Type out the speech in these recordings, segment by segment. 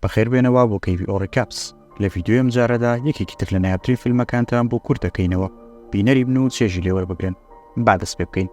بەخێربێنە وا بۆ کەیڤی ئۆ ڕیکاپس. لە ڤیدیۆی ئەم جارەدا یەکێکی تر لە نایابترین فیلمەکانتان بۆ کورت دەکەینەوە بینەری بن و چێژی لێ وەربگرن. با دەست پێ بکەین.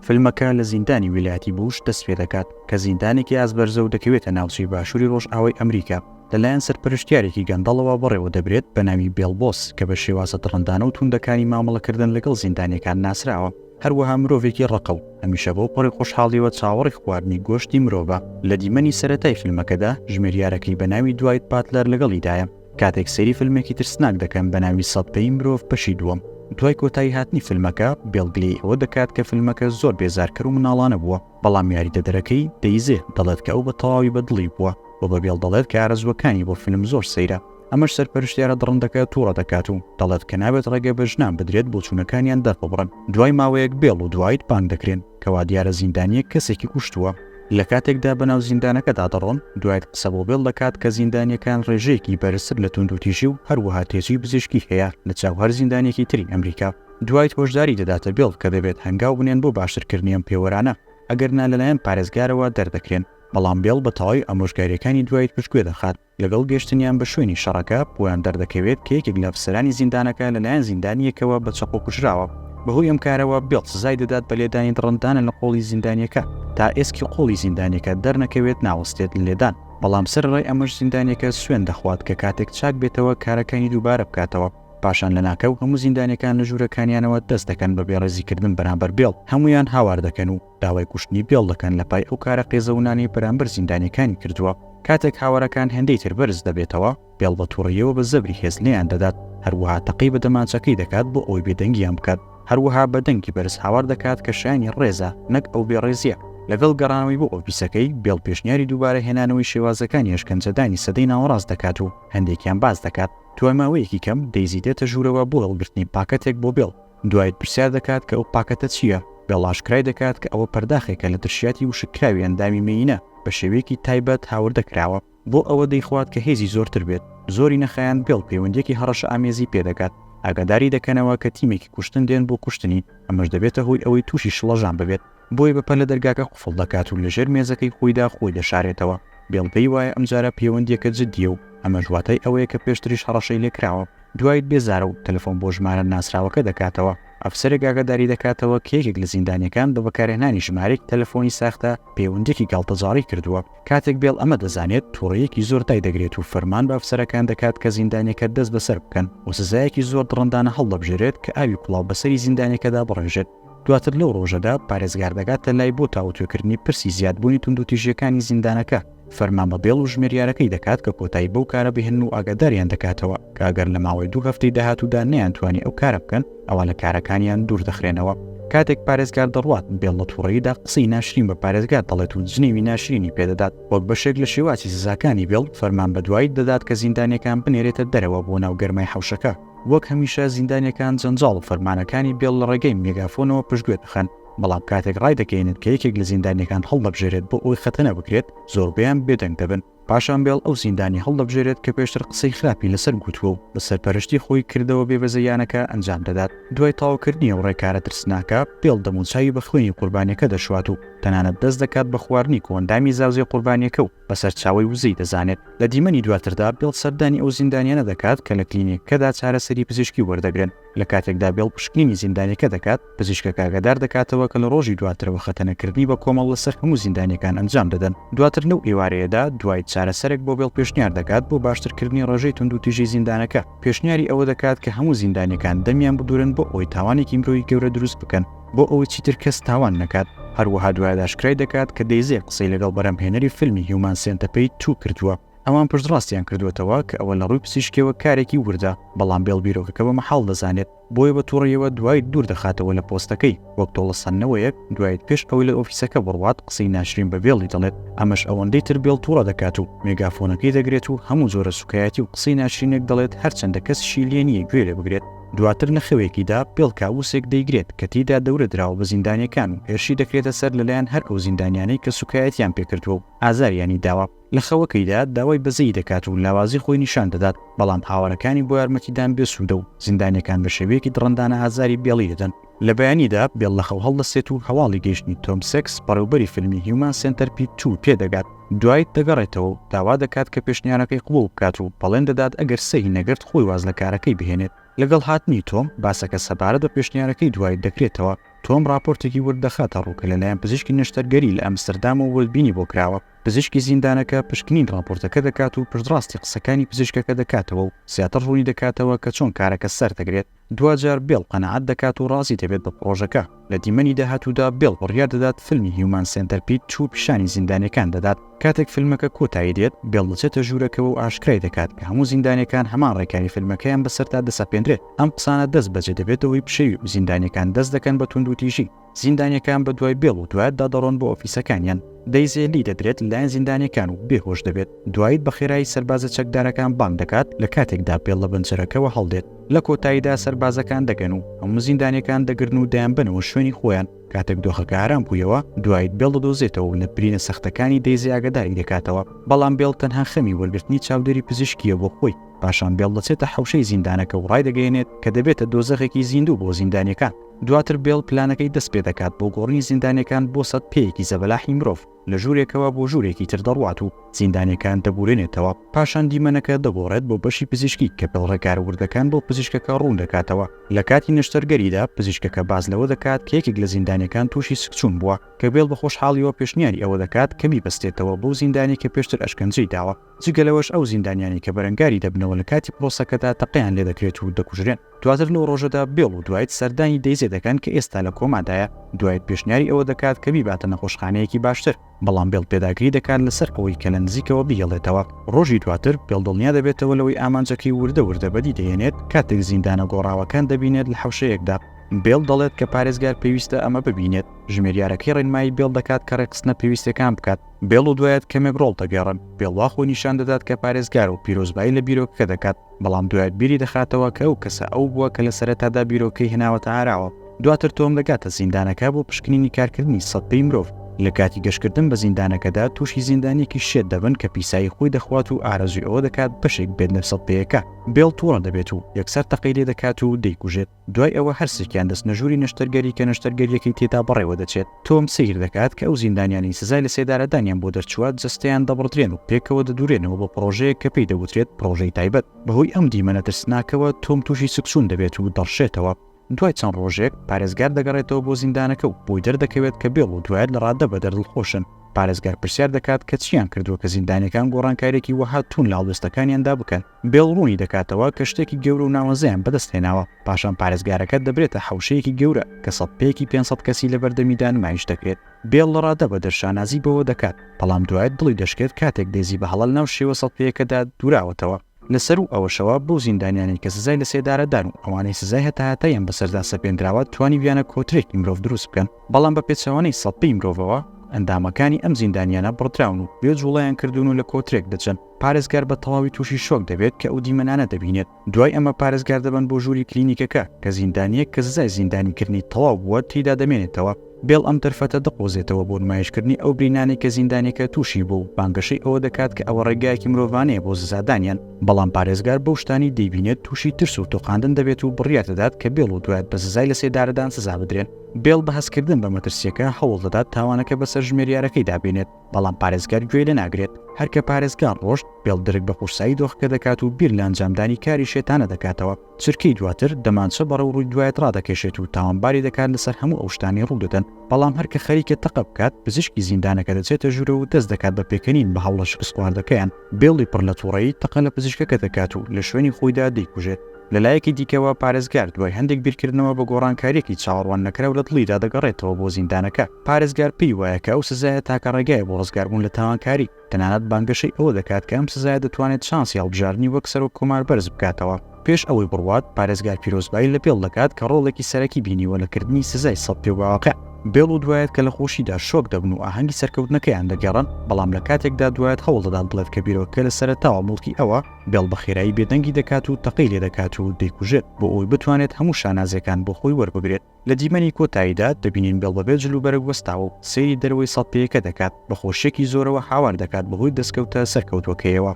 فیلمەکە لە زیندانی ویلایەتی بوش دەست پێ دەکات کە زیندانێکی ئازبەرزە و دەکەوێتە ناوچەی باشووری ڕۆژئاوای ئەمریکا. لەلایەن سەرپەرشتیارێکی گەندەڵەوە بەڕێوە دەبرێت بە ناوی بێڵ بۆس کە بە شێوازە دڕندانە و تووندەکانی مامەڵەکردن لەگەڵ زیندانییەکان ناسراوە. هەروەها مرۆڤێکی ڕەقە و هەمیشە بەو پەڕی خۆشحاڵییەوە چاوەڕی خواردنی گۆشتی مرۆڤە. لە دیمەنی سەرەتای فیلمەکەدا ژمێریارەکەی بە ناوی دوایت باتلەر لەگەڵیدایە. کاتێک سەیری فیلمێکی ترسناک دەکەن بە ناوی سەد پێی مرۆڤ بەشی دووەم. دوای کۆتایی هاتنی فیلمەکە، بێڵ گلەی ئەوە دەکات کە فیلمەکە زۆر بێزارکەر و مناڵانە بووە، بەڵام یاریدەدەرەکەی، دەیزێ، دەڵێت کە ئەو بە تەواوی بە دڵی بووە و بە بێڵ دەڵێت کە ئارەزووەکانی بۆ فیلم زۆر سەیرە. ئەمەش سەرپەرشتیارە دڕندەکە توڕە دەکات و دەڵێت کە نابێت ڕێگە بە ژنان بدرێت بۆچوونەکانیان دەرببڕن، دوای ماوەیەک بێڵ و دوایت بانگ دەکرێن کە وادیارە زیندانییەک کەسێکی کوشتووە، لە کاتێکدا بەناو زیندانەکەدا دەڕۆن، دوایت قسە بۆ بێڵ دەکات کە زیندانییەکان ڕێژەیەکی بەرزتر لە توندوتیژی و هەروەها تێچووی پزیشکی هەیە لە چاو هەر زیندانییەکی تری ئەمریکا، دوایت هۆشداری دەداتە بێڵ کە دەبێت هەنگاو بنێن بۆ باشترکردنی ئەم پێوەرانە، ئەگەرنا لەلایەن پارێزگارەوە دەردەکرێن، بەڵام بێڵ بە تەواوی ئامۆژگارییەکانی دوایت پشتگوێ دەخات. لەگەڵ گەشتنیان بە شوێنی شەڕەکە، بۆیان دەردەکەوێت کە یەکێک لە ئەفسەرانی زیندانەکە لەلایەن زیندانییەکەوە بە چەقۆ کوژراوە. بەهۆی ئەم کارەوە، بیڵ سزای دەدات بە لێدانی دڕندانە لە قۆڵی زیندانییەکە. تا ئێسکی قۆڵی زیندانییەکە دەرنەکەوێت، ناوەستێت لە لێدان. بەڵام سەرەڕای ئەمەش زیندانییەکە سوێند دەخوات کە کاتێک چاک بێتەوە کارەکانی دووبارە بکاتەوە. پاشان لەناکاو هەموو زیندانییەکان لە ژوورەکانیانەوە دەست دەکەن بە بێڕێزیکردن بەرامبەر بیڵ، هەموویان هاوار دەکەن و. داوای کوشتنی بێڵ دەکەن لە پای ئەو کارە قێزەونانەی بەرامبەر زیندانیەکانی کردووە، کاتێک هاوارەکان هێندەی تر بەرز دەبێتەوە، بێڵ بە توڕەیەوە بە زەبری هێز لێیان دەدات، هەروەها تەقەی بە دەمانچەکەی دەکات بۆ ئەوەی بێدەنگیان بکات، هەروەها بە دەنگی بەرز هاوار دەکات کە شایەنی ڕێزە نەک ئەو بێڕێزیە. لەگەڵ گەڕانەوەی بۆ ئۆفیسەکەی، بێڵ پێشنیاری دووبارە هێنانەوەی شێوازەکانی ئەشکەنجەدانی سەدەی ناوەڕاست دەکات و هەندێکیان باس دەکات، دوای ماوەیەکی کەم، دەیزی دێتە ژوورەوە بۆ هەڵگرتنی پاکەتێک بۆ بێڵ، دوایت پرسیار دەکات کە ئەو پاکەتە چییە، گەڵ ئاشکرای دەکات کە ئەوە پەرداخێکە لە ترشیاتی وشککراوی ئەندامی مێینە بە شێوەیەکی تایبەت هاوردە کراوە، بۆ ئەوە دەیخوات کە هێزی زۆرتر بێت، زۆری نەخایاند گەڵ پەیوەندییەکی هەڕەشەئامێزی پێ دەگات، ئاگاداری دەکەنەوە کە تیمێکی کوشتن دێن بۆ کوشتنی، ئەمەش دەبێتە هۆی ئەوەی تووشی شڵەژان ببێت. بۆیە بە پەلە دەرگاکە قفڵ دەکات و لەژێر مێزەکەی خۆیدا خۆی دەشارێتەوە. بێڵ پێی وایە ئەمجارە پێوەندییەکە جددییە و ئەمەش واتای ئەوەیە کە پێشتریش هەڕەشەی لێ کراوە. دوایت بێزارە و تەلەفۆن بۆ ژمارە ناسراوەکە دەکاتەوە. ئەفسەرێک ئاگاداری دەکاتەوە کە یەکێک لە زیندانییەکان بە بەکارهێنانی ژمارەیەکی تەلەفۆنی ساختە پەیوەندییەکی گاڵتەجاڕی کردووە. کاتێک بێڵ ئەمە دەزانێت، توڕەیەکی زۆر دای دەگرێت و فەرمان بە ئەفسەرەکان دەکات کە زیندانییەکە دەستبەسەر بکەن و سزایەکی زۆر دڕندانە هەڵدەبژێرێت کە ئاوی کوڵاو بەسەری زیندانییەکەدا بڕێژێت. دواتر لەو ڕۆژەدا پارێزگار دەگاتە لای بۆ تاوتوێکردنی پرسی زیادبوونی توندوتیژیەکانی زیندانەکە فەرمان بە بێڵ و ژمێریارەکەی دەکات کە کۆتایی بەو کارە بهێن و ئاگاداریان دەکاتەوە کاگەر لە ماوەی دوو هەفتەی داهاتوودا نیان توانی ئەو کارە بکەن ئەوە لە کارەکانیان دوور دەخرێنەوە کاتێک پارێزگار دەڕوات بێڵ لە تووڕەیدا قسەی ناشرین بە پارێزگار دەڵێت و جنێوی ناشرینی پێدەدات وەک بەشێک لە شێواچی سزاکانی بێڵ فەرمان بە دوایی دەدات کە زیندانەکان بنێرێتە دەرەوە بۆ ناو گەرمای حوشەکە وەک هەمیشە زیندانیەکان جەنجاڵ و فەرمانەکانی بێڵ لە ڕێگەی مێگافۆنەوە پشتگوێ دەخەن، بەڵام کاتێک ڕایدەگەیەنن کە یەکێک لە زیندانیەکان هەڵدەبژێرێت بۆ ئەوەی خەتەنە بکرێت، زۆربەیان بێدەنگ دەبن. پاشان بێڵ ئەو زیندانیە هەڵدەبژێرێت کە پێشتر قسەی خراپی لەسەر گوتووە و بە سەرپەرشتی خۆی کردەوە بێبەزەییانەکە ئەنجام دەدات. دوای تەواوکردنی ئەو ڕێکارە ترسناکە، بێڵ دەموچاوی بە خوێنی قوربانیەکە دەشوات و تەنانەت دەست دەکات بە خواردنی کۆئەندامی زاوزێ قوربانیەکە و بە سەرچاوەی وزەی دەزانێت. لە دیمەنی دواتردا بێڵ سەردانی ئەو زیندانیانە دەکات کە لە کلینیکەکەدا چارەسەری پزیشکی وەردەگرن، لە کاتێکدا بێڵ پشکنینی زیندانیەکە دەکات، پزیشکەکە ئاگادار دەکاتەوە کە لە ڕۆژی دواترەوە خەتەنەکردنی بە کۆمەڵ لەسەر هەموو زیندانیەکان ئەنجام دەدەن. دواتر لەو ئێوارەیەدا دوایت چارەسەرێک بۆ بێڵ پێشنیار دەکات بۆ باشترکردنی ڕێژەی توندوتیژی زیندانەکە، پێشنیاری ئەوە دەکات کە هەموو زیندانیەکان دەمیان ببورن بۆ ئەوەی تاوانێکی مرۆیی گەورە دروست بکەن، بۆ ئەوەی چیتر کەس تاوان نەکات، هەروەها دوایەداشکرای دەکات کە دەیزێ قسەی لەگەڵ بەرهەمهێنەری فیلمی هیومان سێنتەپەید توو کردووە، ئەوان پشتڕاستیان کردووەتەوە کە ئەوە لە ڕووی پسیشکیەوە کارێکی وردە، بەڵام بێڵ بیرۆکەکە بە مەحاڵ دەزانێت، بۆیە بە توڕەیەوە دوایت دوور دەخاتەوە لە پۆستەکەی، وەک تۆڵەسەندنەوەیەک دوایت پێش ئەوەی لە ئۆفیسەکە بڕوات قسەی ناشرین بە بێڵی دەڵێت، ئەمەش ئەوەندەی تر بێڵ توڕە دەکات و مێگافۆنەکەی دەگرێت و هەموو جۆرە سوکایەتی و قسەی ناشرینێک دەڵێت هەرچەندە کەسیشی لێ نییە گوێ لێ بگرێت. دواتر لە خەوێکیدا پێڵ کابوسێک دەیگرێت کە تێیدا دەورە دراوە بە زیندانیەکان و هێرشی دەکرێتە سەر لەلایەن هەر ئەو زیندانیانەی کە سوکایەتیان پێکردوە و ئازاریانی داوە لە خەوەکەیدا داوای بەزەیی دەکات و لاوازی خۆی نیشان دەدات بەڵام هاوەرەکانی بۆ یارمەتیدان بێ سودە و زیندانیەکان بە شێوەیەکی دڕندانە ئازاری بێڵی دەدەن لە بەیانیدا بێڵ لە خەو هەڵدەستێت و هەواڵی گەیشتنی تۆم سێکس بەڕێوبەری فیلمی هیومان سێنتەر پی توو پێدەگات، دوایت دەگەڕێتەوە و داوا دەکات کە پێشنیارەکەی قبوڵ بکات و پەڵێن دەدات ئەگەر سەهی نەگرت خۆی واز لە کارەکەی بهێنێت. لەگەڵ هاتنی تۆم، باسەکە سەبارەت بە پێشنیارەکەی دوایت دەکرێتەوە، تۆم ڕاپۆرتێکی ورد دەخاتە ڕوو کە لەلایەن پزیشکی نەشتەرگەری لە ئەمستردامەوە وردبینی بۆ کراوە، پزیشکی زیندانەکە پشکنین ڕاپۆرتەکە دەکات و پشتڕاستی قسەکانی پزیشکەکە دەکاتەوە و زیاتر ڕوونی دەکاتەوە کە چۆن کارەکە سەردەگرێت. دواجار بێڵ قەناعەت دەکات و ڕازی دەبێت بە پڕۆژەکە. لە دیمەنی داهاتوودا بێڵ بڕیار دەدات فیلمی هیومان سێنتەرپید توو پیشانی زیندانیەکان دەدات. کاتێک فیلمەکە کۆتایی دێت، بێڵ دەچێتە ژوورەکەوە و ئاشکرای دەکات کە هەموو زیندانیەکان هەمان ڕێکاری فیلمەکەیان بەسەردا دەسەپێنرێت. ئەم قسانە دەست بەجێ دەبێتەوەی پشێوی و زیندانیەکان دەست دەکەن بە توندوتیژی. زیندانیەکان بە دوای بێڵ و دوایتدا دەڕۆن بۆ ئۆفیسەکانیان، دەیزێ لی دەدرێت لەلایەن زیندانیەکان و بێ هۆش دەبێت، دوایت بە خێرایی سەربازە چەکدارەکان بانگ دەکات لە کاتێکدا بێڵ لە بەنجەرەکەوە هەڵدێت، لە کۆتاییدا سەربازەکان دەگەن و هەموو زیندانیەکان دەگرن و دەیانبەنەوە شوێنی خۆیان، کاتێک دۆخەکە ئارام بوویەوە دوایت بێڵ دەدۆزێتەوە و لە برینە سەختەکانی دەیزی ئاگەداری دەکاتەوە، بەڵام بێڵ تەنها خەمی وەرگرتنی چاودێری پزیشکیە بۆ خۆی، پاشان بێڵ دەچێتە حەوشەی زیندانەکە و ڕایدەگەیەنێت کە دەبێتە دۆزەخێکی زیندوو بۆ زیندانیەکان. دواتر بێڵ پلانەکەی دەست پێ دەکات بۆ گۆڕینی زیندانیەکان بۆ سەد پێیەکی زەبەلاحی مرۆڤ، لە ژوورێکەوە بۆ ژوورێکی تر دەڕوات و زیندانیەکان دەبورێنێتەوە، پاشان دیمەنەکە دەگۆڕێت بۆ بەشی پزیشکی کە بێڵ ڕێکارە وردەکان بۆ پزیشکەکە ڕوون دەکاتەوە، لە کاتی نەشتەرگەریدا پزیشکەکە باس لەوە دەکات کە یەکێک لە زیندانیەکان تووشی سکچوون بووە، کە بێڵ بە خۆشحاڵیەوە پێشنیاری ئەوە دەکات کە بیبەستێتەوە بەو زیندانیەی کە پێشتر ئەشکەنجەی داوە. جگە لەوەش ئەو زیندانیانەی کە بەرەنگاری دەبنەوە لە کاتی پرۆسەکەدا تەقەیان لێ دەکرێت و دەکوژرێن. دواتر لەو ڕۆژەدا بێڵ و دوایت سەردانی دەیزێ دەکەن کە ئێستا لە کۆمادایە، دوایت پێشنیاری ئەوە دەکات کە بیباتە نەخۆشخانەیەکی باشتر، بەڵام بێڵ پێداگری دەکات لەسەر ئەوەی کە لە نزیکەوە بیهێڵێتەوە. ڕۆژی دواتر بێڵ دڵنیا دەبێتەوە لەوەی ئامانجەکەی وردە وردە بەدی دەهێنێت کاتێک زیندانە گۆڕاوەکان دەبینێت لە حەوشەیەکدا. بێڵ دەڵێت کە پارێزگار پێویستە ئەمە ببینێت. ژمێریارەکەی ڕێنمایی بێڵ دەکات کە ڕێکخستنە پێویستەکان بکات. بێڵ و دوایت کەمێک ڕۆڵ دەگێڕن، بێڵ وا خۆی نیشان دەدات کە پارێزگار و پیرۆزبایی لە بیرۆکەکە دەکات، بەڵام دوایت بیری دەخاتەوە کە ئەو کەسە ئەو بووە کە لە سەرەتادا بیرۆکەی هێناوەتە ئاراوە، دواتر تۆم دەگاتە زیندانەکە بۆ پشکنینی کارکردنی سەد پێی مرۆڤ، لە کاتی گەشتکردن بە زیندانەکەدا تووشی زیندانییەکی شێت دەبن کە پیسایی خۆی دەخوات و ئارەزووی ئەوە دەکات بەشێک بێت لە سەد پێیەکە، بێڵ تووڕە دەبێت و یەکسەر تەقەی لێ دەکات و دەیکوژێت. دوای ئەوە هەرسێکیان دەچنە ژووری نەشتەرگەری کە نەشتەرگەرییەکەی تێدا بەڕێوە دەچێت، تۆم سەیر دەکات کە ئەو زیندانیانەی سزای لەسێدارەدانیان بۆ دەرچووە جەستەیان دەبڕدرێن و پێکەوە دەدورێنەوە بۆ پڕۆژەیەک کە پێی دەوترێت پڕۆژەی تایبەت. بەهۆی ئەم دیمەنە ترسناکەوە تۆم تووشی سکچوون دەبێت و دەڕشێتەوە. دوای چەند ڕۆژێک، پارێزگار دەگەڕێتەوە بۆ زیندانەکە و بۆی دەردەکەوێت کە بێڵ و دوایت لە ڕاددەبەدەر دڵخۆشن. پارێزگار پرسیار دەکات کە چییان کردووە کە زیندانییەکان گۆڕانکارییەکی وەها تووند لە هەڵوێستەکانیاندا بکەن. بێڵ ڕوونی دەکاتەوە کە شتێکی گەورە و ناوەزەیان بەدەست هێناوە، پاشان پارێزگارەکە دەبرێتە حەوشەیەکی گەورە کە سەد پێیەکی پێنج سەد کەسی لەبەردەمیدا نمایش دەکرێت. بێڵ لە ڕادە بە دەر شانازی بەوە دەکات، بەڵام دوایت دڵی دەشکێت کاتێک دێزی بە هەڵە لەناو شێوە سەد پێیەکەدا دووراوەتەوە. لە سەروو ئەوەشەوە بەو زیندانیانەی کە سزای لەسێدارەدان و ئەوانەی سزای هەتاهەتاییان بەسەردا سەپێندراوە توانیویانە کۆترێکی مرۆڤ دروست بکەن، بەڵام بە پێچەوانەی سەد پێی مرۆڤەوە ئەندامەکانی ئەم زیندانیانە بڕدراون و بێ جووڵەیان کردوون و لە کۆترێک دەچن. پارێزگار بە تەواوی تووشی شۆک دەبێت کە ئەو دیمەنانە دەبینێت، دوای ئەمە پارێزگار دەبەن بۆ ژووری کلینیکەکە کە زیندانییەک کە سزای زیندانیکردنی تەواو بووە تێیدا دەمێنێتەوە، بێڵ ئەم دەرفەتە دەقۆزێتەوە بۆ نمایشکردنی ئەو برینانەی کە زیندانییەکە تووشی بووە و بانگەشەی ئەوە دەکات کە ئەوە ڕێگایەکی مرۆڤانەیە بۆ سزادانیان، بەڵام پارێزگار بەو شتانەی دەیبینێت تووشی ترس و تۆقاندن دەبێت و بڕیار دەدات کە بێڵ و دوایت بە سزای لەسێدارەدان سزا بدرێن، بێڵ بە هەستکردن بە مەترسییەکە هەوڵ دەدات تاوانەکە بەسەر ژمێریارەکەیدا بێنێت. بەڵام پارێزگار گوێی لێ ناگرێت، هەر کە پارێزگار ڕۆشت، بێڵ درک بە قورسایی دۆخەکە دەکات و بیر لە ئەنجامدانی کاری شێتانە دەکاتەوە، چرکەی دواتر دەمانچە بەڕێو ڕووی دوایت ڕادەکێشێت و تاوانباری دەکات لەسەر هەموو ئەو شتانەی ڕوو دەدەن، بەڵام هەر کە خەریکە تەقە بکات، پزیشکی زیندانەکە دەچێتە ژوورەوە و دەست دەکات بە پێکەنین بە هەوڵە شکستخواردەکەیان، بێڵی پڕ لە توڕەیی تەقە لە پزیشکەکە دەکات و لە شوێنی خۆیدا دەیکوژێت. لە لایەکی دیکەوە، پارێزگار دوای هەندێک بیرکردنەوە بە گۆڕانکارییەکی چاوەڕوان نەکراو لە دڵیدا دەگەڕێتەوە بۆ زیندانەکە. پارێزگار پێی وایە کە ئەو سزایە تاکە ڕێگایە بۆ ڕزگاربوون لە تاوانکاری، تەنانەت بانگەشەی ئەوە دەکات کە ئەم سزایە دەتوانێت شانسی هەڵبژاردنی وەک سەرۆک کۆمار بەرز بکاتەوە. پێش ئەوەی بڕوات، پارێزگار پیرۆزبایی لە بێڵ دەکات کە ڕۆڵێکی سەرەکی بینیوە لە کردنی سزای سەد پێواقع. بێڵ و دوایەت کە لە خۆشیدا شۆک دەبن و ئاهەنگی سەرکەوتنەکەیان دەگێڕن، بەڵام لە کاتێکدا دوایەت هەوڵ دەدات بڵێت کە بیرۆکەکە لە سەرەتاوە موڵکی ئەوە، بێڵ بە خێرایی بێدەنگی دەکات و تەقەی لێ دەکات و دەیکوژێت بۆ ئەوەی بتوانێت هەموو شانازییەکان بۆ خۆی وەربگرێت. لە دیمەنی کۆتاییدا دەبینین بێڵ بەبێ جل و بەرگ وەستاوە و سەیری دەرەوەی سەدپێیەکە دەکات، بە خۆشییەکی زۆرەوە هاوار دەکات بەهۆی دەستکەوتە سەرکەوتووەکەیەوە.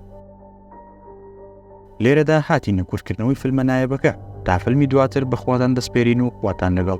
لێرەدا هاتینە کورتکردنەوەی فیلمە نایابەکە، تا فیلمی دواتر بەخواتان دەسپێرین و خواتان لەگەڵ.